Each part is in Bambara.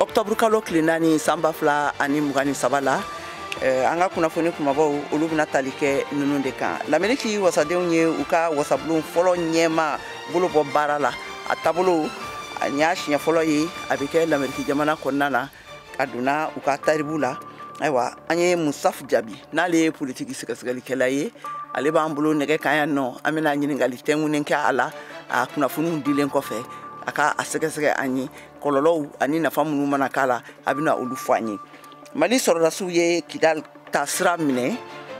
octobre kalo tile naani san ba fila ani mugan ni saba la eh, an ka kunnafoni kumabaw olu bɛna tali kɛ ninnu de kan lameriki wasadenw ye u ka wasabulon fɔlɔ ɲɛma bolo bɔ baara la a taabolo a y'a siɲɛ fɔlɔ ye a bɛ kɛ lameriki jamana kɔnɔna na a donna u ka tariku la ayiwa an ye musaf jaabi n'ale ye politiki sɛgɛsɛgɛlikɛla ye ale b'an bolo nɛgɛ kan yan nɔ an bɛna ɲininkali tɛnkunnen kɛ a la a kunnafoniw dilen kɔfɛ a ka a sɛgɛsɛgɛ an ye kɔlɔlɔw ani nafa minnu mana k'a la a bɛna olu fɔ an ye mali sɔrɔdasiw ye kidal ta sira minɛ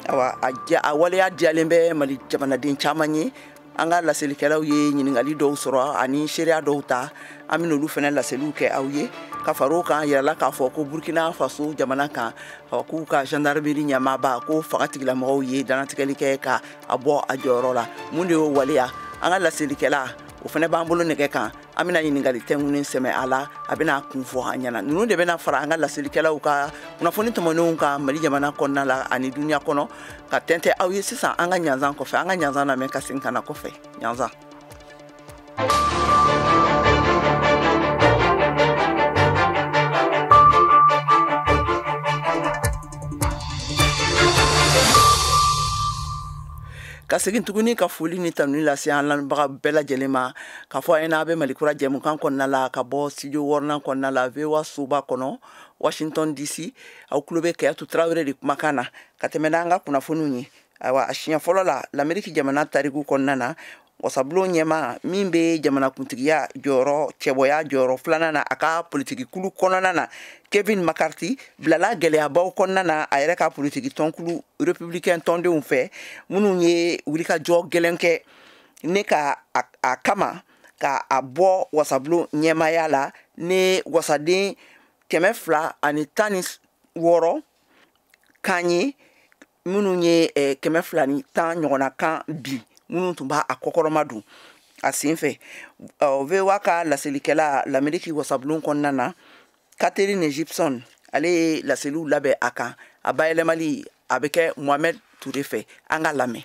awa a waleya diyalen bɛ mali jamanaden caman ye an ka laselikɛlaw ye ɲininkali dɔw sɔrɔ ani seereya dɔw ta an bɛna olu fana laseliw kɛ aw ye ka fara o kan yirala k'a fɔ ko burkina faso jamana kan k'u ka gendarmerie ɲɛmaaba ko fanga tigilamɔgɔw ye dantigɛli kɛ ka a bɔ a jɔyɔrɔ la mun de y'o waleya an ka laselikɛla o fana b'an bolo nɛgɛ kan an bɛna ɲininkali tɛnkunnen sɛmɛ a la a bɛna kun fɔ an ɲɛna ninnu de bɛna fara an ka laselikɛlaw ka kunnafoni tɔmɔnenw kan mali jamana kɔnɔna la ani duniya kɔnɔ k'a tɛntɛn aw ye sisan an ka ɲanzan kɔfɛ an ka ɲanzan lamɛn ka segin ka na kɔfɛ ɲanzan ka segin tuguni ka foli ni tanuni lase an lamɛnbaga bɛɛ lajɛlen ma K'a fɔ a ye n'a bɛ mali kura jɛmukan kɔnɔna la ka bɔ studio wɔɔrɔnan kɔnɔna la voa soba kɔnɔ washington dc aw tulo bɛ kadiatu tarawele de kumakan na ka tɛmɛ n' an ka kunnafoniw ye ayiwa a siɲɛ fɔlɔ la lameriki jamana tariku kɔnɔna na wasabulon ɲɛma min bɛ jamanakuntigiya jɔyɔrɔ cɛbɔya jɔyɔrɔ filanan na a ka politikikulu kɔnɔna na kevin mccarthy bilala gɛlɛyabaw kɔnɔna na a yɛrɛ ka politiki tɔnkulu républicain tɔndenw fɛ minnu ye wulikajɔ gɛlɛn kɛ ne ka a, a kama ka a bɔ wasabulon ɲɛmaya la ni wasaden kɛmɛ fila ani tan ni wɔɔrɔ kan ye minnu ye eh, kɛmɛ fila ni tan ɲɔgɔnna kan bin minnu tun b'a a kɔkɔrɔmadon a sen fɛ uh, voa ka laselikɛla lameriki wasabulon kɔnɔna na katherine gypson ale ye laseliw labɛn a kan a bayɛlɛmali a bɛ kɛ mohamed ture fɛ an ka lamɛn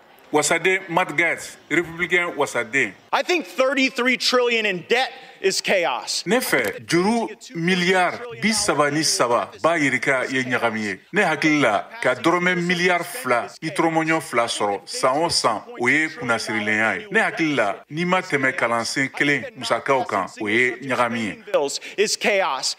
Wasaden Matt Gaetz, Républicain Wasaden. I think 33 trillion in debt is chaos. Ne fɛ juru miliyari bi saba ni saba ba yirika ye ɲagami ye. Ne hakili la ka dɔrɔmɛ miliyari fila ni tɔrɔmɔɲɔ fila sɔrɔ san o san o ye kunnasirilenya ye. Ne hakili la n'i ma tɛmɛ kalansen kelen musakaw kan o ye ɲagami ye. Is chaos.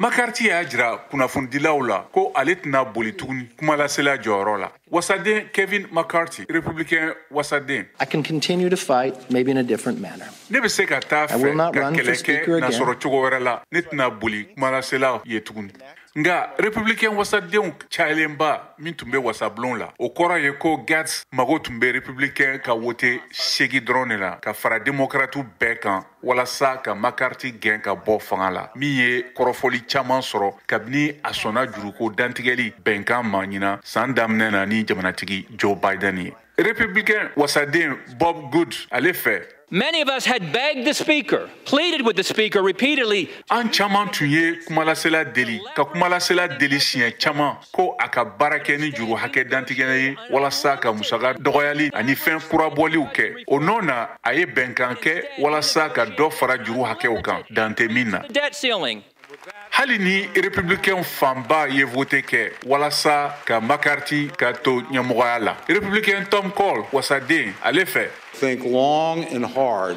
mccarthy y'a jira kunnafonidilaw la ko ale tɛna boli tuguni kumalasela jɔyɔrɔ la wasaden kevin mccarthy republican wasaden I can continue to fight, maybe in a different manner. ne bɛ se ka taa fɛ ka kɛlɛ kɛ n'a sɔrɔ cogo wɛrɛ la ne tɛna boli kumalasela ye tuguni nka republican wasadenw cayalenba min tun bɛ wasabulon la o kɔrɔ ye ko gaetz mago tun bɛ republican ka wote segin dɔrɔn de la ka fara demokratiw bɛɛ kan walasa ka mccarthy gɛn ka bɔ fanga la min ye kɔrɔfɔli caman sɔrɔ kabini a sɔnna juruko dantigɛli bɛnkan ma ɲinan san daminɛ na ni jamanatigi joe biden ye republicain wasaden bob good ale fɛ Many of us had begged the speaker, pleaded with the speaker repeatedly. An caman tun ye kumalasela deli ka kumalasela deli siɲɛ caman ko a ka baara kɛ ni juru hakɛ dantigɛlen ye walasa ka musaka dɔgɔyali ani fɛn kurabɔliw kɛ o nɔ na a ye bɛnkan kɛ walasa ka dɔ fara juru hakɛw kan dan tɛ min na hali ni republicain fanba ye vote kɛ walasa ka mccarthy ka to ɲɛmɔgɔya la republicain tom cole wasaden ale fɛ think long and hard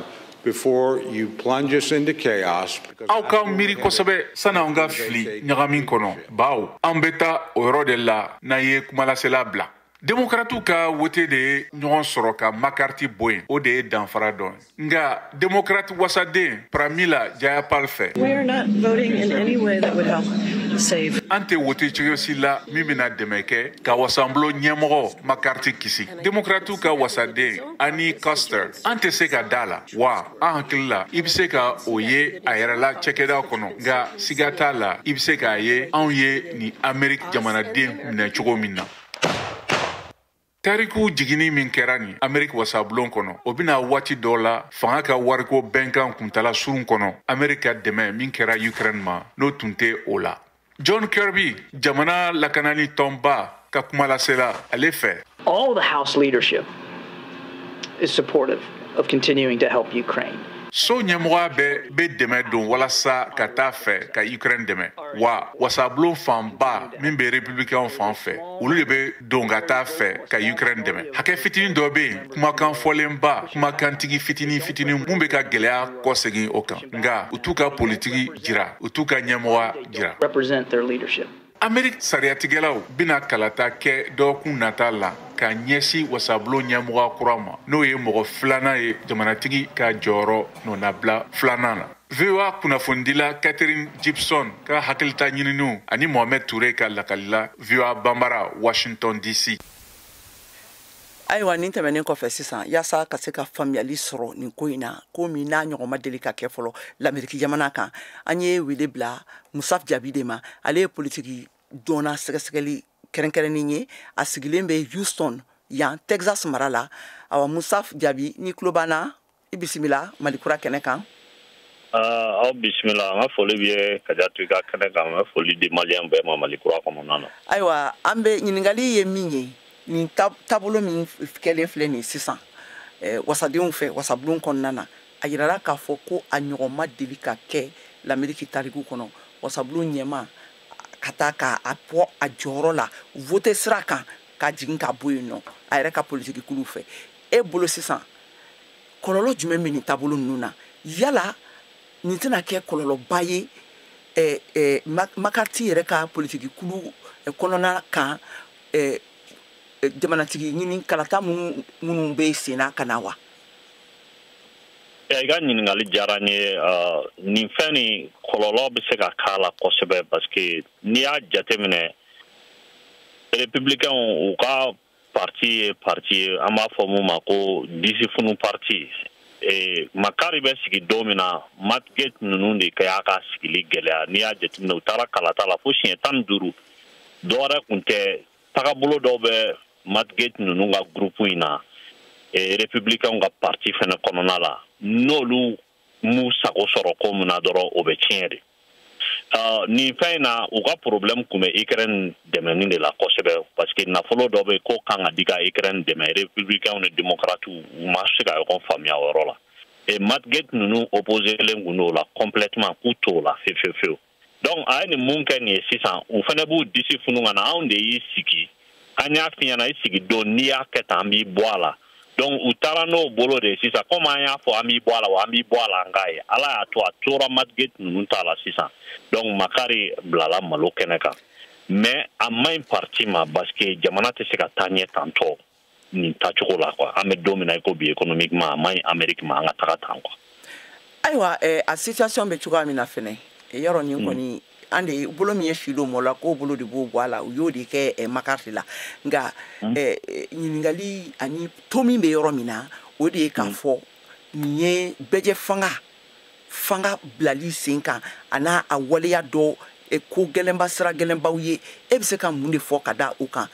aw ka miiri kosɛbɛ sani an ka fili ɲagami kɔnɔ bawo an bɛ taa o yɔrɔ de la n'an ye kumalasela bila demokaratiw ka wote de ye ɲɔgɔn sɔrɔ ka mccarthy bɔ yen o de ye danfara dɔ ye nka demokarati wasaden pramila jayapal fɛ an tɛ wote cogo si la min bɛna dɛmɛ kɛ ka wasabulon ɲɛmɔgɔ mccarthy kisi Demokratiw ka wasaden Annie Kuster an tɛ se ka da a la wa an hakili la i bɛ se ka o ye a yɛrɛ la cakɛda kɔnɔ nka siga t'a la i bɛ se k'a ye anw ye nin Ameriki jamanaden minɛ cogo min na. tariku jiginni min kɛra nin ameriki wasabulon kɔnɔ o bɛ na waati dɔ la fanga ka wariko bɛnkan kuntala surun kɔnɔ ameriki ka dɛmɛ min kɛra ukraine ma n'o tun tɛ o la John Kirby, jamana lakanani tɔnba ka kumalasela ale fɛ. All the House leadership is supportive of continuing to help Ukraine. so ɲɛmɔgɔya bɛɛ bɛ dɛmɛ don walasa ka taa fɛ ka ukraine dɛmɛ wa wasabulon fanba min bɛ republikɛnw fan fɛ olu de bɛ don ka taa fɛ ka ukraine dɛmɛ hakɛ fitinin dɔ bɛ yen kumakan fɔlenba kumakantigi fitinin fitinin min bɛ ka gɛlɛya kɔsegin o kan nka u t'u ka politiki jira u t'u ka ɲɛmɔgɔya jira ameriki sariyatigɛlaw bɛna kalata kɛ dɔgɔkun nata la ka ɲɛsi wasabulon ɲɛmɔgɔya kura ma n'o ye mɔgɔ filanan ye jamanatigi ka jɔyɔrɔ nɔnabila filanan na voa kunnafonidila katherine gypson ka hakilita ɲininiw ani mohamɛd ture ka lakali la voa banbara washington dc ayiwa nin tɛmɛnen kɔfɛ sisan yaasa ka se ka faamuyali sɔrɔ nin ko in na ko min n'a ɲɔgɔn ma deli ka kɛ fɔlɔ lameriki jamana kan an ye wele bila musaf jabi de ma ale ye politiki dɔnna sɛgɛsɛgɛli kɛrɛnkɛrɛnnen ye a sigilen bɛ houston yan texas mara la awa musaf jabi n'i tulo b'an na i bisimila malikura kɛnɛ kan ah, aw bisimila an ka foli b'i ye kajatu i ka kɛnɛ kan an bɛ foli di maliyɛn bɛɛ ma malikura kɔnɔna na ayiwa an bɛ ɲininkali ye min ye nin taabolo min kɛlen filɛ nin sisan eh, wasadenw fɛ wasabulon kɔnɔna na a yirala k'a fɔ ko a ɲɔgɔn ma deli ka kɛ lameriki tariku kɔnɔ wasabulon ɲɛmaa ka ta k'a bɔ a jɔyɔrɔ la vote sira kan k'a jigin k'a bɔ yen nɔ a yɛrɛ ka politikikuluw fɛ e bolo sisan kɔlɔlɔ jumɛn bɛ nin taabolo ninnu na yala nin tɛna kɛ kɔlɔlɔba ye eh, eh, mccarthy yɛrɛ ka politiki kulu eh, kɔnɔna kan eh, eh, jamanatigi ɲini kalata minnu minnu bɛ sen na ka na wa i ka ɲininkali diyara n ye ah, nin fɛn nin kɔlɔlɔ bɛ se ka k'a la kosɛbɛ parce que n'i y'a jateminɛ republicains u ka parti ye parti ye an b'a fɔ mun ma ko disifunu parti Eh, mccarthy bɛ sigi don min na matt gaetz ninnu de ka y'a ka sigili gɛlɛya n'i y'a jateminɛ u taara kalata la fo siɲɛ tan ni duuru dɔwɛrɛ kun tɛ tagabolo dɔw bɛ matt gaetz ninnu ka gurupu in na eh, républicainw ka parti fɛnɛ kɔnɔna la n'olu m'u sago sɔrɔ ko min na dɔrɔn o bɛ tiɲɛ de nin fɛn in na u ka problème kun bɛ ukraine dɛmɛni de la kosɛbɛ parce que nafolo dɔ bɛ k'o kan ka di ka ukraine dɛmɛ républicainw ni démocratiw u ma se ka ɲɔgɔn faamuya o yɔrɔ la et matt gaetz ninnu opposélen kun don o la complètement k'u t'o la fewu fewu fewu donc a ye nin mun kɛ nin ye sisan u fɛnɛ b'u disi funu ka na anw de y'i sigi an y'a f'i ɲɛna i sigi don n'i y'a kɛ tan an b'i bɔ a la donc u taara n'o bolo de ye sisan comme an y'a fɔ an b'i bɔ a la wa an b'i bɔ a la an k'a ye ala y'a to a tora matt gaetz ninnu ta la sisan donc mccarthy bilala malo kɛnɛ kan mais a man ɲi parti ma parce que jamana tɛ se ka taa ɲɛ tantɔ nin tacogo la quoi an bɛ don min na i ko bi économiquement a man ɲi Amérique ma an ka taga tan quoi. ayiwa eh, a situation bɛ cogoya min na fɛnɛ eh, yɔrɔ nin kɔni mm. an de bolo min ye filo mɔ la k'o bolo de b'o bɔ a la u y'o de kɛ eh, mccarthy la nka mm. eh, eh, ɲininkali ani to min bɛ yɔrɔ min na o de ye k'a mm. fɔ nin ye bɛɛjɛfanga fanga bilali sen kan a n'a a waleya dɔ eh, ko gɛlɛnba sira gɛlɛnbaw ye e bɛ se ka mun de fɔ ka da o kan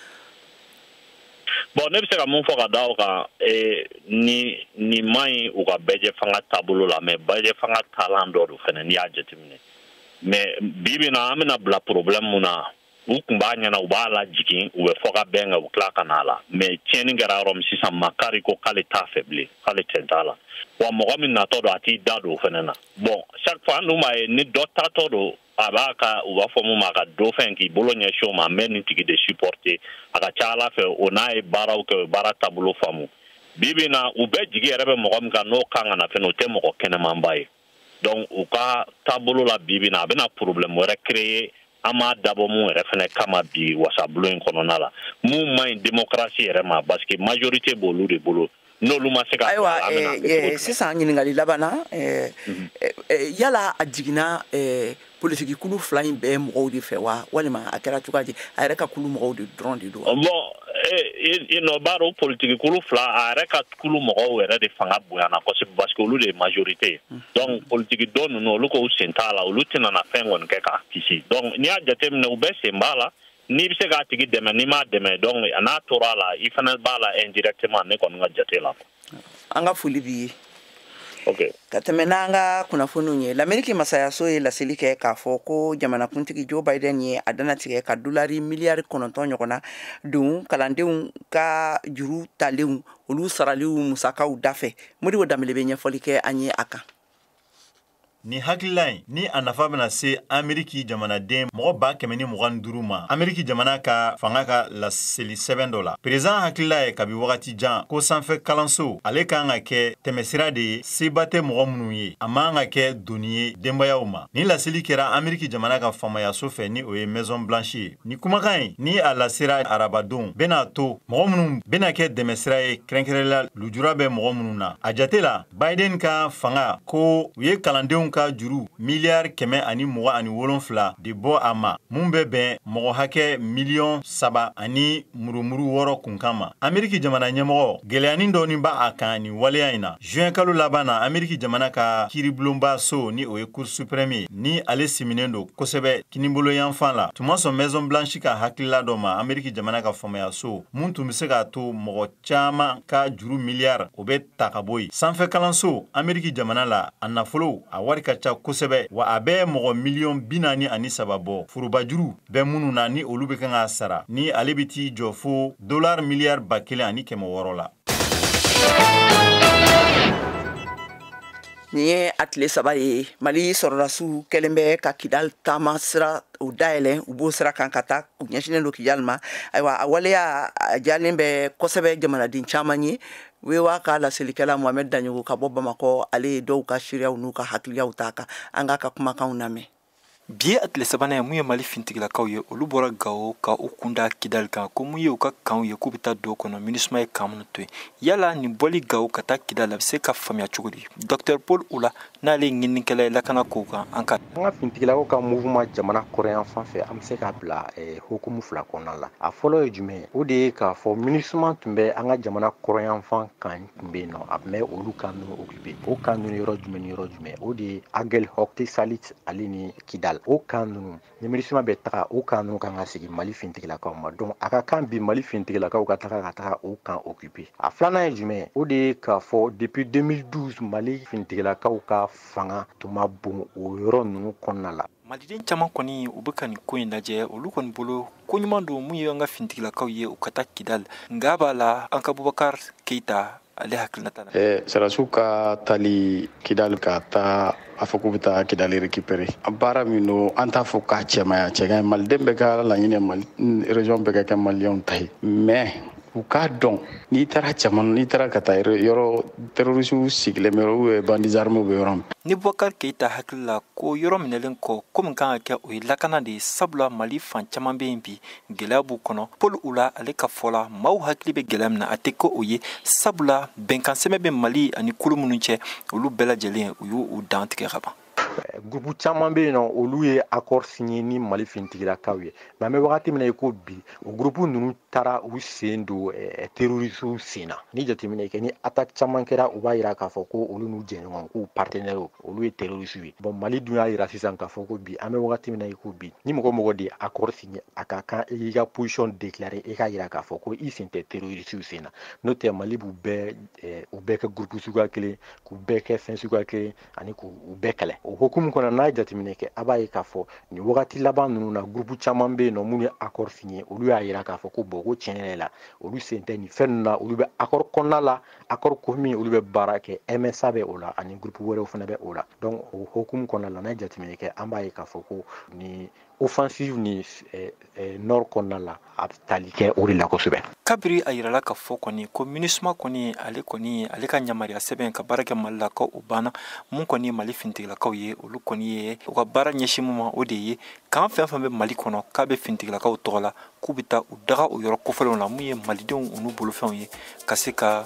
bon ne bɛ se ka mun fɔ ka da o kan ni nin man ɲi u ka bɛɛjɛ fanga taabolo la mais bɛɛjɛ fanga taalan dɔ don fɛnɛ n'i y'a jateminɛ mais bi bi na an bɛna bila problème mun na u tun b'a ɲɛna u b'a lajigin u bɛ fɔkabɛn kɛ u tila ka n'a la mais tiɲɛni kɛra yɔrɔ min sisan McCarthy ko k'ale t'a fɛ bilen k'ale tɛn t'a la wa mɔgɔ min natɔ don a t'i da don o fɛnɛ na bon chaque fois an dun b'a ye ni dɔ taatɔ don a b'a ka u b'a fɔ mun ma a ka dauphin k'i bolo ɲɛsin o ma n bɛ nin tigi de supporter a ka ca a la fɛnɛ o n'a ye baaraw kɛ o ye baara taabolo faamu bi bi na u bɛɛ jigi yɛrɛ bɛ mɔgɔ min kan n'o kan ka na fɛnɛ o tɛ mɔgɔ kɛnɛmanba ye donc u ka taabolo la bi bi na a bɛna problème wɛrɛ créer an m'a dabɔ mun yɛrɛ fɛnɛ kama bi wasabulon in kɔnɔna la mun man ɲi démocratie yɛrɛ ma parce que majorité b'olu de bolo n'olu ma se ka ayiwa eh, eh, sisan ɲininkali laban na eh, mhm. yala a jiginna politiki kulu fila in bɛɛ mɔgɔw de fɛ wa walima a kɛra cogoya di a yɛrɛ ka kulu mɔgɔw de dɔrɔn de don bon i nɔ b'a dɔn politiki kulu fila a yɛrɛ ka kulu mɔgɔw yɛrɛ de fanga bonyana kosɛbɛ parce que olu de ye majorité ye mhm. donc politiki dɔ ninnu olu k'u sen t'a la olu tɛna na fɛn kɔni kɛ k'a kisi donc n'i y'a jateminɛ u bɛɛ sen b'a la n'i bɛ se k'a tigi dɛmɛ n'i m'a dɛmɛ donc a n'a tora a la i fana b'a la indirectement ne kɔni ka jate la. an ka foli b'i ye. Okay. ka tɛmɛ n'an ka kunnafoniw ye lameriki masayaso ye laseli kɛ k'a fɔ ko jamanakuntigi joe biden ye a danatigɛ ka dolari miliyari kɔnɔntɔn ɲɔgɔnna don kalandenw ka juru talenw olu saraliw musakaw dafɛ modibo danbele bɛ ɲɛfɔli kɛ an ye a kan Nin hakilila in ni a nafa bɛna se ameriki jamanaden mɔgɔ ba kɛmɛ ni mugan ni duuru ma ameriki jamana ka fanga ka laseli sɛbɛn dɔ la perezidan hakilila ye kabi wagati jan ko sanfɛ kalanso ale kan ka kɛ tɛmɛsira de ye se ba tɛ mɔgɔ minnu ye a man ka kɛ doni ye denbayaw ma nin laseli kɛra ameriki jamana ka faamayaso fɛ ni o ye maison blanche ye nin kumakan in ni a lasera arabadon bɛn'a to mɔgɔ minnu bɛna kɛ dɛmɛsira ye kɛrɛnkɛrɛnla lujura bɛ mɔgɔ minnu na a jate la Biden ka fanga ko u ye kalandenw ka juru miliyari kɛmɛ ani mugan ani wolonfila de bɔ a ma mun bɛ bɛn mɔgɔ hakɛ miliyɔn saba ani murumuru wɔɔrɔ kunkan ma ameriki jamana ɲɛmɔgɔ gɛlɛyanin dɔɔni b'a kan nin waleya in na juin kalo laban na ameriki jamana ka kiiribulonba so ni o ye cour suprême ye ni ale siminen don kosɛbɛ kiniboloyanfan la tun ma sɔn maison blanche ka hakilila dɔ ma ameriki jamana ka faamaya so mun tun bɛ se k'a to mɔgɔ caman ka juru miliyari o bɛ ta ka bɔ yen sanfɛ kalanso ameriki jamana la a nafolo a wari ka ca kosɛbɛ wa a bɛ mɔgɔ miliyɔn bi naani ani saba bɔ forobajuru bɛ minnu na ni olu bɛ kan k'a sara ni ale bɛ t'i jɔ fo dolari miliyari ba kelen ani kɛmɛ wɔɔrɔ la nin ye a tile saba ye mali sɔrɔdasiw kɛlen bɛ ka kidal taama sira o dayɛlɛ u b'o sira kan ka taa u ɲɛsinnen don kidali ma ayiwa a waleya a diyalen bɛ kosɛbɛ jamanaden caman ye VOA ka laselikɛla mohamed daɲɔgɔ ka bɔ bamakɔ ale ye dɔw ka seereyaw n'u ka hakiliyaw ta kan an k'a ka kumakanw lamɛn bi ye a tile sabanan ye mun ye mali fintigilakaw ye olu bɔra gawo ka u kunda kidali kan ko mun ye u ka kanw ye k'u bɛ taa don kɔnɔ minusma ye kan minnu to yen yala nin bɔli gawo ka taa kidali a bɛ se ka faamuya cogo di docteur paul oula n'ale ye ɲininikɛla ye lakana kow kan an ka an ka fintigilakaw ka mouvement jamana kɔrɔnyanfan fɛ an bɛ se k'a bila eh, hukumu fila kɔnɔna la a fɔlɔ ye jumɛn o de ye k'a fɔ minusma tun bɛ an ka jamana kɔrɔnyanfan kan tun bɛ yen nɔ a tun bɛ olu kan ninnu occupé o kan ninnu yɔrɔ jumɛn ni yɔrɔ jumɛn o de ye aguelhok tessalit ale ni kidal o kan ninnu ni minusma bɛ taga o kan ninnu kan ka segin mali fintigilakaw ma donc a ka kan bi mali fintigilakaw ka taga ka taga o kan occupé a filanan ye jumɛn o de ye k'a fɔ depuis 2012 mali fintigilakaw ka fanga tun ma bon o yɔrɔ ninnu kɔnɔna la maliden caman kɔni u bɛ ka nin ko in lajɛ olu kɔni bolo ko ɲuman don mun ye an ka fintigilakaw ye u ka taa kidali nka b'a la an ka bubakar keita ale hakilinata la. Eh, sɔrɔdasiw ka taali kidali ka taa a fɔ k'u bɛ taa kidali récupéré a baara min don an t'a fɔ k'a cɛ man ɲi a cɛ ka ɲi maliden bɛɛ ka laɲini ye mali région bɛɛ ka kɛ maliyɛnw ta ye mais u k'a dɔn n'i taara cɛman n'i taara ka taa yɔrɔ terorisiw sigilen bɛ u ye bandits armés bɛ yɔrɔ min ni bubakar keita hakili la ko yɔrɔ minɛlen kɔ ko min kan ka kɛ o ye lakana de ye sabula mali fan caman bɛ yen bi gɛlɛya b'u kɔnɔ paul oula ale ka fɔ la maaw hakili bɛ gɛlɛya min na a tɛ ko o ye sabula bɛnkansɛbɛn bɛ mali ani kulu minnu cɛ olu bɛɛ lajɛlen u y'u dantigɛ ka ban gurupu caman bɛ yen nɔ olu ye accord signé ni mali fintigilakaw ye mais an bɛ wagati min na i ko bi o gurupu ninnu taara u sen don terrorisiw sen na ni jateminɛ kɛ ni attaque caman kɛra u b'a jira k'a fɔ ko olu n'u jɛɲɔgɔn k'u partenaire olu ye terrorisiw ye bon mali dun y'a jira sisan k'a fɔ ko bi an bɛ wagati min na i ko bi ni mɔgɔ o mɔgɔ de ye accord a ka kan i ka position déclaré i k'a yira k'a fɔ ko i sen tɛ terrorisiw sen na n'o tɛ mali b'u bɛɛ eh, u bɛɛ kɛ gurupu suguya kelen k'u bɛɛ kɛ fɛn suguya kelen ani k'u bɛɛ kɛlɛ o hukumu kɔnɔ n'a ye jateminɛ kɛ a b'a ye k'a fɔ nin wagati laban ninnu na gurupu caman bɛ yen nɔ minnu ye accord signé olu y'a yira k'a fɔ ko bon ko tiɲɛ yɛrɛ la olu sen tɛ nin fɛn ninnu na olu bɛ accord kɔnɔna la accord ko min olu bɛ baara kɛ msa bɛ o la ani gurupu wɛrɛw fana bɛ o la donc o hukumu kɔnɔna la n'a ye jateminɛ kɛ an b'a ye k'a fɔ ko ni offensive ni eh, eh, nord kɔnɔna la a bɛ tali kɛ o de la kosɛbɛ kabiri a yirala ka fɔ kɔni ko minusma kɔni ale kɔni ale ka yamaruya sɛbɛn ka baara kɛ mali la ko o banna mun kɔni ye mali finitigilakaw ye olu kɔni ye u ka baara ɲɛsin mun ma o de ye kan fɛn fɛn bɛ mali kɔnɔ k'a bɛ finitigilakaw tɔgɔ la k'u bɛ taa u daga o yɔrɔ kofɔlenw la mun ye malidenw unu bolofɛnw ye ka se ka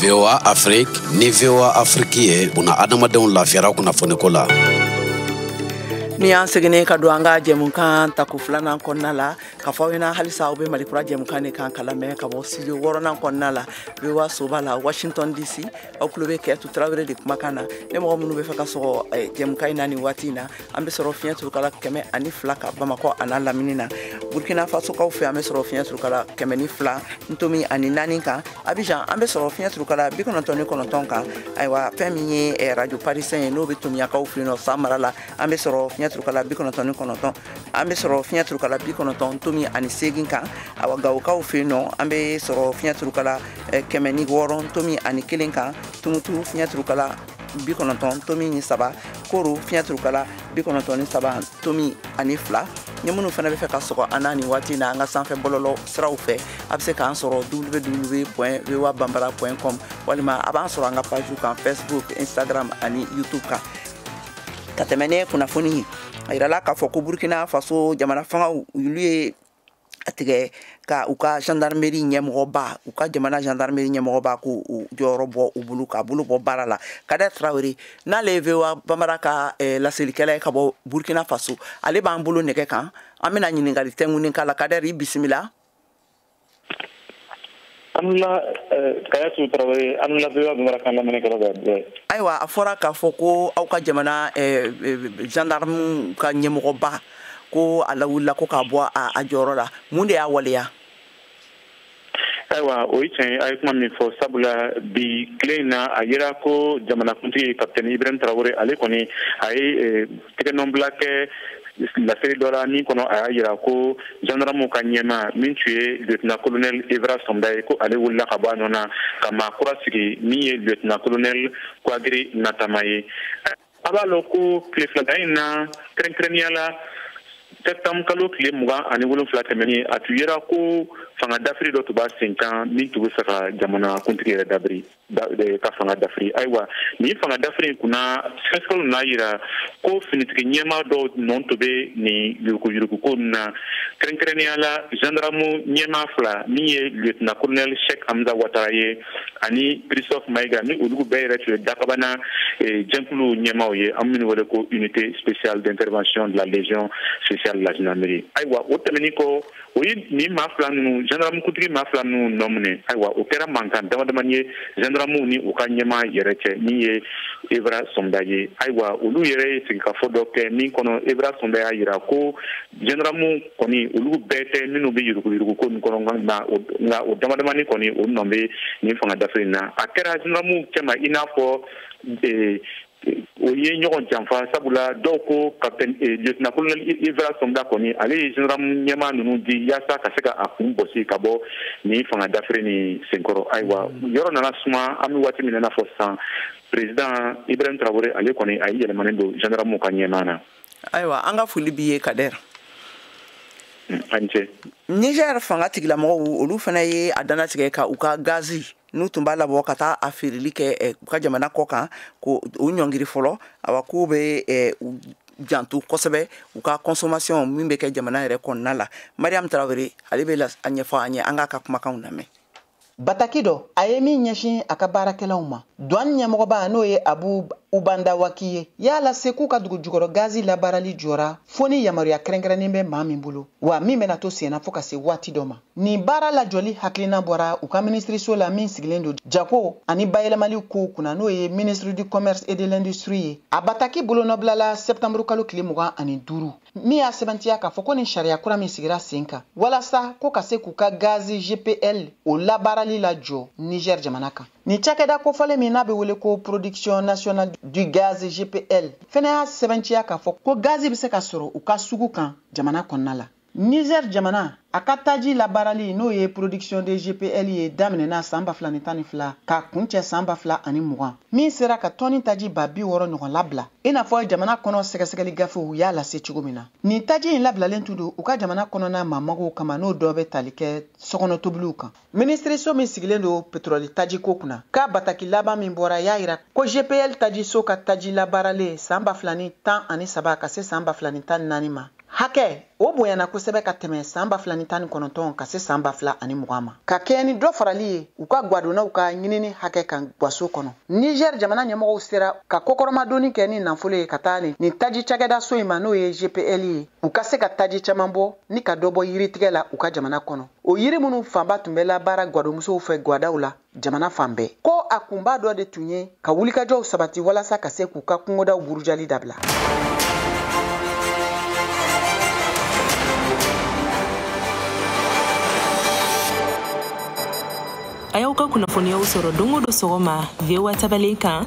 VOA Afrique ni VOA Afrique ye buna adamadenw lafiyara kunnafoniko la. nin y'an seginnen ka don an ka jɛmukan tako filanan kɔnɔna la ka fɔ aw ɲɛna halisa aw bɛ malikura jɛmukan de kan ka lamɛn ka bɔ studio wɔɔrɔnan kɔnɔna la VOA soba la washington dc aw tulo bɛ kajatu tarawele de kumakan na ni mɔgɔ minnu bɛ fɛ ka sɔgɔ eh, jɛmukan in na nin waati in na an bɛ sɔrɔ fiɲɛ turukala kɛmɛ ani fila kan bamakɔ an'a lamini na burkina fasokaw fɛ an bɛ sɔrɔ fiɲɛ turukala kɛmɛ ni fila ntomi ani naani kan abijan an bɛ sɔrɔ fiɲɛ turukala bi kɔnɔntɔn ni kɔnɔntɔn kan ayiwa fɛn min ye eh, radio parisɛn ye n'o bɛ tominiyankaw fɛ yen nɔ san mara la an bɛ sɔrɔ fiɲɛ turukala bi kɔnɔntɔn ni kɔnɔntɔn an bɛ sɔrɔ fiɲɛ turukala bi kɔnɔntɔn ntomi ani seegin kan awa gawokaw fɛ yen nɔ an bɛ sɔrɔ fiɲɛ turukala eh, kɛmɛ ni wɔɔrɔ ntomi ani kelen kan tumutu fiɲɛturukala bi kɔnɔntɔn tomi ni saba koro fiɲɛturukala bi kɔnɔntɔn ni saba tomi ani fila ni minnu fana bɛ fɛ ka sɔgɔ an na nin waati na an ka sanfɛ bɔlɔlɔ siraw fɛ a bɛ se k'an sɔrɔ www voa bambara com walima a b'an sɔrɔ an ka pajiw kan facebook instagram ani youtube kan ka tɛmɛ ni kunnafoni a yirala k'a fɔ ko burkina faso jamana fangaw olu ye a tigɛ ka u ka gendarmerie ɲɛmɔgɔba u ka jamana gendarmerie ɲɛmɔgɔba k'o jɔyɔrɔ bɔ o bolo k'a bolo bɔ baara la kadɛr tarawele n'ale ye voa bambara ka eh, laselikɛla ye ka bɔ burkina faso ale b'an bolo nɛgɛ kan an bɛna ɲininkali tɛngunin k'a la kadɛr i bisimila ayiwa a fɔra k'a fɔ ko aw ka jamana zandarmu ka ɲɛmɔgɔba ko a lawulila ko k'a bɔ a jɔyɔrɔ la mun de y'a waleya ayiwa o ye tiɲɛ ye a ye kuma min fɔ sabula bi tile in na a yera ko jamanakuntigi kapitɛni ibrahim tarawele ale kɔni a ye eh, tɛgɛnɔbila kɛ laseli dɔ la min kɔnɔ a y'a yira ko zandarmuw ka ɲɛmaa min tun ye lieutenant colonel evrard somda ye ko ale wulila ka bɔ a nɔ na ka maa kura sigi min ye lieutenant colonel kouagri natama ye a b'a lɔn ko tile filada in na kɛrɛnkɛrɛnnenya la septembre kalo tile mugan ani wolonfila tɛmɛnin a tun yera ko fanga dafiri dɔ tun b'a sen kan min tun bɛ fɛ ka jamana kuntigi yɛrɛ dabiri ka fanga dafiri ayiwa nin fanga dafiri in kunna sɛgɛsɛgɛliw n'a yira ko finitigi ɲɛmaa dɔw nɔ tun bɛ nin yuruguyuruguko ninnu na kɛrɛnkɛrɛnnenya la zandaramu ɲɛmaa fila min ye lieutenant colonel sheikh hamza watara ye ani christophe mayiga ni olu bɛɛ yɛrɛ tun ye dakabana eh, jɛkulu ɲɛmaaw ye an minnu wele ko unité spéciale d'intervention de la légion spéciale de la gendarmerie ayiwa o tɛmɛnin kɔ o ye nin maa fila ninnu zandaramukuntigi maa fila ninnu nɔ minɛ ayiwa o kɛra mankan dama damani ye zandaramuw ni u ka ɲɛmaa yɛrɛ cɛ min ye evrard somda ye ayiwa olu yɛrɛ ye sigikafɔ dɔ kɛ min kɔnɔ evrard somda y'a yira ko zandaramu kɔni olu bɛɛ tɛ minnu bɛ yuruguyuruguko nin kɔnɔ nka o dama damani kɔni o nɔ bɛ nin fanga dafiri in na a kɛra zandaramuw cɛma i n'a fɔ o ye ɲɔgɔn janfa sabula dɔw ko kapitɛni eh, lieutenant colonel evrard somda kɔni ale ye zandaramu ɲɛmaa ninnu di yaasa ka se ka a kun bɔsi ka bɔ nin fanga dafiri nin senkɔrɔ ayiwa mm. yɔrɔ nana suma an bɛ waati min na i n'a fɔ sisan president ibrahim tarawele ale kɔni a ye yɛlɛmanin don zandaramu ka ɲɛmaa na ayiwa an ka foli b'i ye kadɛr mm, an ce niger fanga tigilamɔgɔw olu fana ye a dantigɛ ka u ka gazi n'u tun b'a labɔ ka taa a feereli kɛ eh, u ka jamana kɔkan ko o ɲɔngiri fɔlɔ awa k'u bɛ eh, janto kosɛbɛ u ka consommation min bɛ kɛ jamana yɛrɛ kɔnɔna la mariam tarawele ale bɛ a ɲɛfɔ an ye an k'a ka kumakanw lamɛn bataki dɔ a ye min ɲɛsin a ka baarakɛlaw ma duwan ɲɛmɔgɔba n'o ye abu ubandawaki ye y'a lase k'u ka dugu jukɔrɔ gazi labaarali jɔra fo ni yamaruya kɛrɛnkɛrɛnnen bɛ maa min bolo wa min bɛna to senna fo ka se waati dɔ ma Nin baara lajɔli hakilina bɔra u ka minisiriso la min sigilen don jako ani bayɛlɛmali kow kunna n'o ye ministre du commerce et de l'industrie ye a bataki bolonɔbilala septanburu kalo tile mugan ani duuru min y'a sɛbɛntiya k'a fɔ ko nin sariya kura min sigira sen kan walasa ko ka se k'u ka gazi gpl o labaarali lajɔ niger jamana kan nin cakɛda kofɔlen min n'a bɛ wele ko production nationale du gaz gpl fɛnɛ y'a sɛbɛntiya k'a fɔ ko gazi bɛ se ka sɔrɔ u ka sugu kan jamana kɔnɔna la Niger jamana a ka taji labaarali n'o ye production de gpl ye daminɛna saan ba fila ni tan ni fila k'a kuncɛ saan ba fila ani mugan min sera ka tɔni taji ba bi wɔɔrɔ ɲɔgɔn labila i n'a fɔ jamana kɔnɔ sɛgɛsɛgɛli gafew y'a lase cogo min na nin taji in labilalen tun don u ka jamana kɔnɔna maa magow kama n'o dɔ bɛ tali kɛ sokɔnɔ tobiliw kan minisiriso min sigilen don petroli tajiko kunna ka bataki laban min bɔra y'a yira ko gpl tajiso ka taji labaaralen saan ba fila ni tan ani saba ka se saan ba fila ni tan ni naani ma hakɛ o bonyana kosɛbɛ ka tɛmɛ saan ba fila ni tan ni kɔnɔntɔn ka se saan ba fila ani mugan ma ka kɛɲɛ ni dɔ farali ye u ka gwadonnaw ka ɲinini hakɛ kan gwaso kɔnɔ nizɛr jamana ɲɛmɔgɔw sera ka kɔkɔrɔmadonni kɛ ni nafolo ye ka taa nin nin taji cakɛdaso in ma n'o ye gpl ye u ka se ka taji caman bɔ ni ka dɔ bɔ yiritigɛ la u ka jamana kɔnɔ o yiri minnu fanba tun bɛ labaara gwadomusow fɛ gwadaw la jamana fan bɛɛ ko a kunba dɔ de tun ye ka wulikajɔw sabati walasa ka se k'u ka kungodaw burujali dabila a y'aw ka kunnafoniyaw sɔrɔ don o don sɔgɔma voa tabalen kan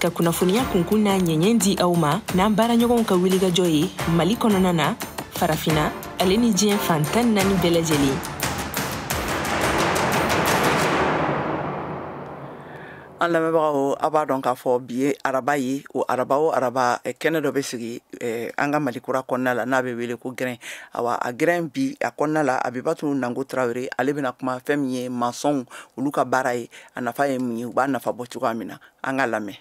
ka kunnafoniya kunkun n'a ɲɛɲɛ di aw ma n'an baaraɲɔgɔnw ka wulikajɔ ye mali kɔnɔna na farafina ale ni diɲɛ fan tan naani bɛɛ lajɛlen an lamɛnbagaw aw b'a dɔn k'a fɔ bi ye araba ye o araba o araba eh, kɛnɛ dɔ bɛ sigi eh, an ka mali kura kɔnɔna la n'a bɛ wele ko gɛrɛn awa a gɛrɛn bi a kɔnɔna la abibatu nango tarawele ale bɛna kuma fɛn min ye masɔnw olu ka baara ye a nafa ye mun ye u b'a nafa bɔ cogoya min na an ka lamɛn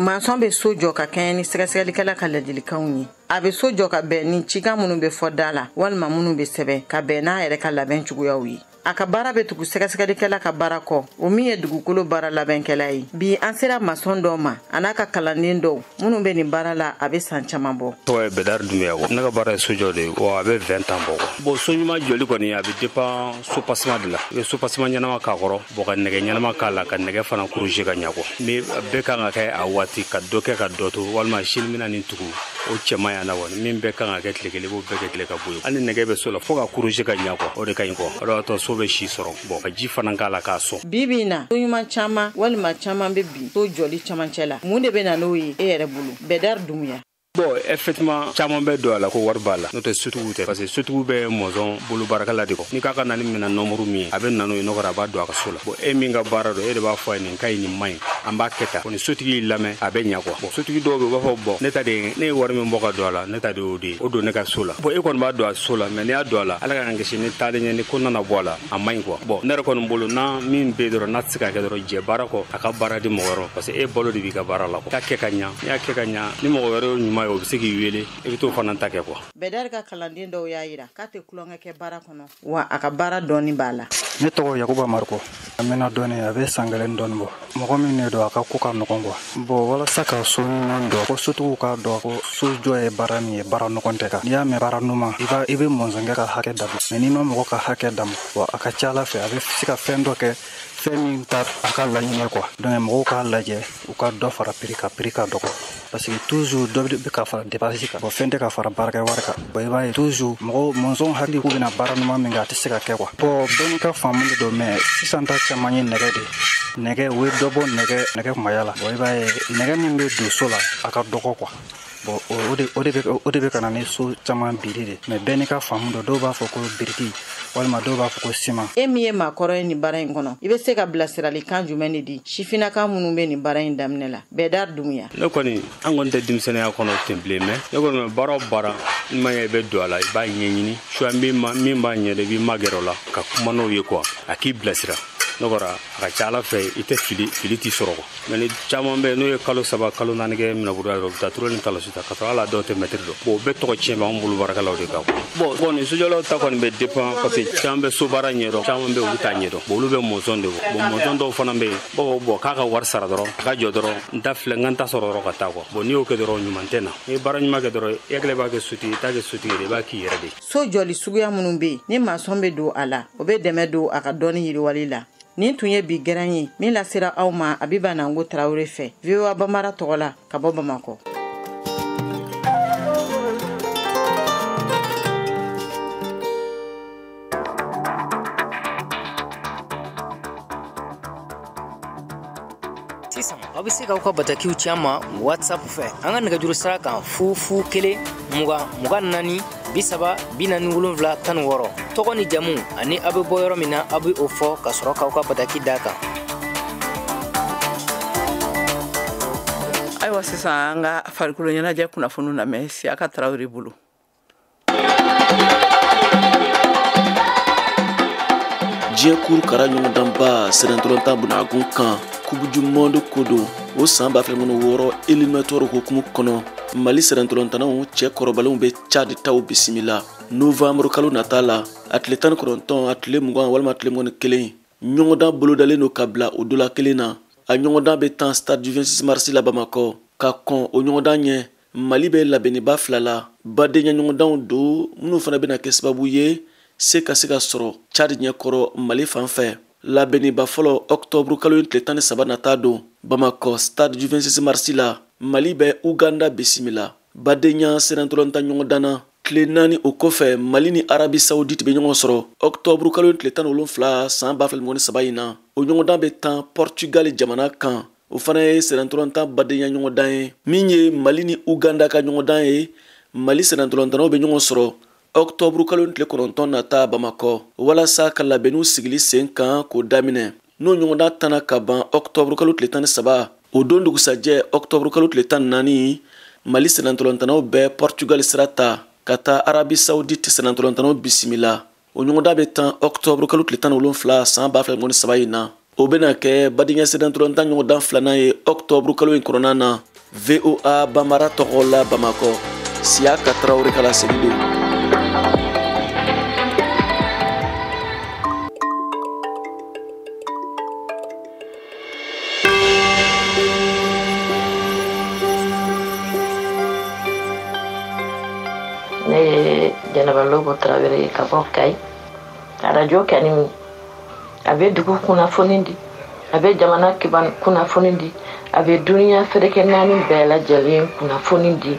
masɔn bɛ so jɔ ka kɛɲɛ ni sɛgɛsɛgɛlikɛla ka ladilikanw ye a bɛ so jɔ ka bɛn ni cikan minnu bɛ fɔ da la walima minnu bɛ sɛbɛn ka bɛn n'a yɛrɛ ka labɛn cogoyaw ye a ka baara bɛ tugu sɛgɛsɛgɛlikɛla ka baara kɔ o min ye dugukolo baara labɛnkɛla ye bi an sera masɔn dɔ ma an'a ka kalanden dɔw minnu bɛ nin baara la a bɛ san caman bɔ tɔgɔ ye bɛdari dumuya quoi ne ka baara ye sojɔ de ye wa a bɛ vingt ans bɔ quoi bon so ɲuman jɔli kɔni a bɛ dépend soubassement de la i bɛ soubassement ɲɛnama k'a kɔrɔ bon ka nɛgɛ ɲɛnama k'a la ka nɛgɛ fana croiser ka ɲa quoi min bɛɛ kan ka kɛ a waati ka dɔ kɛ ka dɔ to walima sini n bɛna nin tugu o cɛman yana wa min bɛɛ kan ka kɛ tile kelen i b'o bɛɛ kɛ tile ka bɔ yen hali nɛgɛ bɛ so la fo ka croiser ka ɲa quoi o de ka ɲi quoi o de b'a to so bɛ si sɔrɔ bon ka ji fana k'a la k'a sɔn bi bi in na so ɲuman caman walima caman bɛ bin so jɔli camancɛ la mun de bɛ na n'o ye e yɛrɛ bolo bɛdari dumuya bon effectivement caman bɛ don a la ko wari b'a la n'o tɛ sotigiw tɛ parce que sotigiw bɛ masɔn bolo baarakɛla de quoi n'i k'a ka na ni minɛn nombre min ye a bɛ na n'o ye n'o kɛra a b'a don a ka so la bon e min ka baara don e de b'a fɔ a ye nin ka ɲi nin man ɲi an b'a kɛ tan quoi ni sotigi y'i lamɛn a bɛ ɲa quoi bon sotigi dɔw bɛ u b'a fɔ bon ne ta de ye ne ye wari min bɔ ka don a la ne ta de y'o de ye o don ne ka so la bon e kɔni b'a don a so la mais n'i y'a don a la ala k'an kisi ni taalen ɲɛ ni ko nana bɔ a la a man ɲi quoi bon ne yɛrɛ kɔni bolo n'a min bɛ dɔrɔn n'a tɛ se ka kɛ dɔrɔn jɛ baara kɔ a ka baara di mɔgɔ wɛrɛ parce que e balo de b'i ka baara la quoi k'a kɛ ka ɲa n'i y'a kɛ ka ɲa ni mɔgɔ wɛrɛ y'o ɲuman ye o bɛ se k'i wele i bɛ t'o fana ta kɛ quoi bɛdari ka kalanden dɔw y'a yira k'a tɛ tulonkɛ kɛ baara kɔnɔ wa a ka baara dɔnni b'a la ne tɔgɔ yakuba mariko a mɛnna dɔɔni a bɛ san kelen dɔɔni bɔ mɔgɔ min ne don a ka ko ka nɔgɔn quoi bon walasa ka so ɲuman jɔ ko sotigiw k'a dɔn ko so jɔ ye baara min ye baara nɔgɔn tɛ quoi n'i y'a mɛn baara ɲuman i b'a i bɛ masɔnkɛ ka hakɛ d'a ma mais n'i ma mɔgɔ ka hakɛ d'a ma bon a ka ca ala fɛ a bɛ se ka fɛn dɔ kɛ fɛn min ta a ka laɲini quoi donc mɔgɔw k'a lajɛ u ka dɔ fara prix kan prix ka dɔgɔ parce que toujours dɔ bɛ ka fara dépense kan bon fɛn tɛ ka fara baarakɛ wari kan bon i b'a ye toujours mɔgɔ masɔn hakili k'u bɛna baara ɲuman min kɛ a tɛ se ka kɛ quoi bon bɛɛ n'i ka faamu de don mais sisan ta caman ye nɛgɛ de nɛgɛ u ye dɔ bɔ nɛgɛ nɛgɛ kumaya la bon i b'a ye nɛgɛ min bɛ don so la a ka dɔgɔ quoi bon o de o de bɛ o de bɛ ka na ni so caman biri de mais bɛɛ n'i ka faamu don dɔw b'a fɔ ko biriki walima dɔw b'a fɔ ko siman e min ye maakɔrɔ ye nin baara in kɔnɔ i bɛ se ka bilasiralikan jumɛn de di sifinaka minnu bɛ nin baara in daminɛ la bɛdari dumuya ne kɔni an kɔni tɛ denmisɛnniya kɔnɔ ten bilen mais ne kɔni ma baara o baara n'i m'a ye i bɛ don a la i b'a ɲɛɲini soit min b'a ɲɛdɔn i b'i magɛrɛ o la ka kuma n'o ye quoi a k'i bilasira n'o kɛra a ka ca ala fɛ i tɛ fili fili t'i sɔrɔ quoi mais ni caman bɛ n'u ye kalo saba kalo naani kɛ minɛburuya dɔrɔn u bɛ taa tureli ni talasi ta ka sɔrɔ hali a dɔw tɛ mɛtiri dɔn bon o bɛɛ tɔgɔ tiɲɛ b'an bolo baarakɛlaw de kan bon bon nin sojɔlaw ta kɔni bɛ dépend parce que caman bɛ so baara ɲɛdɔn caman bɛ olu t'a ɲɛdɔn bon olu bɛ masɔn de bon masɔn dɔw fana bɛ yen bon bon k'a ka wari sara dɔrɔn a ka jɔ dɔrɔn n ta filɛ n ka n ta sɔrɔ dɔrɔn ka taa quoi bon n'i y'o kɛ dɔrɔn ɲuman tɛ na n'i ye baara ɲuman kɛ dɔrɔn i hakili b'a kɛ sotigi i t'a kɛ sotigi de i b'a k'i yɛrɛ de so jɔli suguya minnu bɛ yen ni masɔn bɛ don a la o bɛ dɛmɛ don a ka dɔnni yiriwali la nin tun ye bi gɛrɛn ye min lasera aw ma abiba nango tarawele fɛ voa bambara tɔgɔ la ka bɔ bamakɔ sisan aw bɛ se k'aw ka batakiw ci an ma whatsapp fɛ an ka nɛgɛjuru sira kan fu fu kelen mugan mugan naani bi saba bi naani wolonwula tan ni wɔɔrɔ tɔgɔ ni jamu ani aw bɛ bɔ yɔrɔ min na aw bɛ o fɔ ka sɔrɔ k'aw ka bataki d'a kan ayiwa sisan an ka farikolo ɲɛnajɛ kunnafoniw lamɛn siyaka tarawele bolo diɲɛ kuru kara ɲɔgɔndanba sennantolatan bunakun kan coupe du monde ko don o san ba fila mugan ni wɔɔrɔ éliminatoire hukumu kɔnɔ mali sennantolatannaw cɛ kɔrɔbalenw bɛ tchad taw bisimila novanburu kalo nata la a tile tan ni kɔnɔntɔn a tile mugan walima tile mugan ni kelen ɲɔgɔndan bolodalen don ka bila o dɔ la kelen na a ɲɔgɔndan bɛ tan stade du 26 mars la bamakɔ ka kɔn o ɲɔgɔndan ɲɛ mali bɛ labɛnniba fila la badenyaɲɔgɔndanw don minnu fana bɛna kɛ sababu ye se ka se ka sɔrɔ tchad ɲɛkɔrɔ mali fan fɛ labɛnniba fɔlɔ ɔktɔburu kalo in tile tan ni saba nata don bamakɔ stade du 26 mars la mali bɛ uganda bisimila badenya sennantolatan ɲɔgɔndan na tile naani o kɔfɛ mali ni arabi saoudite bɛ ɲɔgɔn sɔrɔ ɔktɔburu kalo tile tan ni wolonfila san ba fila mugan ni saba in na o ɲɔgɔndan bɛ tan portugal jamana kan o fana ye sennantolatan badenya ɲɔgɔndan ye min ye mali ni uganda ka ɲɔgɔndan ye mali sennantolatannaw bɛ ɲɔgɔn sɔrɔ ɔktɔburu kalo tile kɔnɔntɔn nata bamakɔ walasa ka labɛnniw sigili sen kan k'o daminɛ n'o ɲɔgɔndan tanna ka ban ɔktɔburu kalo tile tan ni saba o don dugusajɛ ɔktɔburu kalo tile tan ni naani mali sennantolatannaw bɛ pɔrtugali sira ta ka taa arabi saudite sennantolatannaw bisimila o ɲɔgɔndan bɛ tan ɔktɔburu kalo tile tan ni wolonfila san ba fila ni mugan ni saba in na o bɛna kɛ badenya sennantolatan ɲɔgɔndan filanan ye ɔktɔburu kalo in kɔnɔna na voa banbara tɔgɔ la bamakɔ siyaka tarawele ka laseli don ne ye jɛnɛba lobo tarawele ye ka bɔ kayi arajo kɛ ni min a bɛ dugu kunnafoni di a bɛ jamana kiban kunnafoni di a bɛ duniya seleke naani bɛɛ lajɛlen kunnafoni di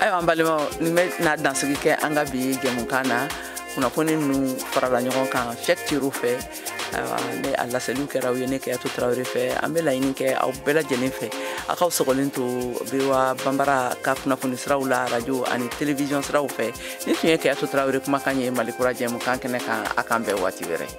ayiwa an balimaw nin bɛna dansigi kɛ an ka bi jɛmukan na kunnafoni ninnu farala ɲɔgɔn kan cheick thiero fɛ ayiwa ne a laseliw kɛra aw ye ne kajatu tarawele fɛ an bɛ laɲini kɛ aw bɛɛ lajɛlen fɛ a k'aw sɔgɔlen to voa banbara ka kunnafoni siraw la arajo ani televiziyɔn siraw fɛ nin tun ye kajatu tarawele kumakan ye mali kura jɛmukan kɛnɛ kan an k'an bɛn waati wɛrɛ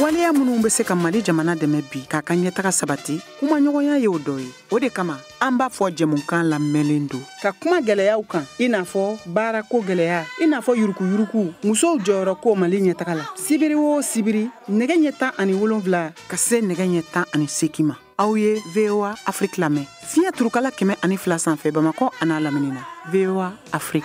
waleya minnu bɛ se ka mali jamana dɛmɛ bi k'a ka ɲɛtaga sabati kumaɲɔgɔnya ye o dɔ ye o de kama an b'a fɔ jɛmukan labɛnlen don ka kuma gwɛlɛyaw kan i n'a fɔ baarako gwɛlɛya i n'a fɔ yurukuyuruku musow jɔyɔrɔ ko mali ɲɛtaga la sibiri o sibiri nɛgɛ ɲɛ tan ani wolonfila ka se nɛgɛ ɲɛ tan ani seki ma aw ye voa afrik lamɛn fiɲɛ turukala kɛmɛ ani fila sanfɛ bamakɔ an'a lamini na voa afrik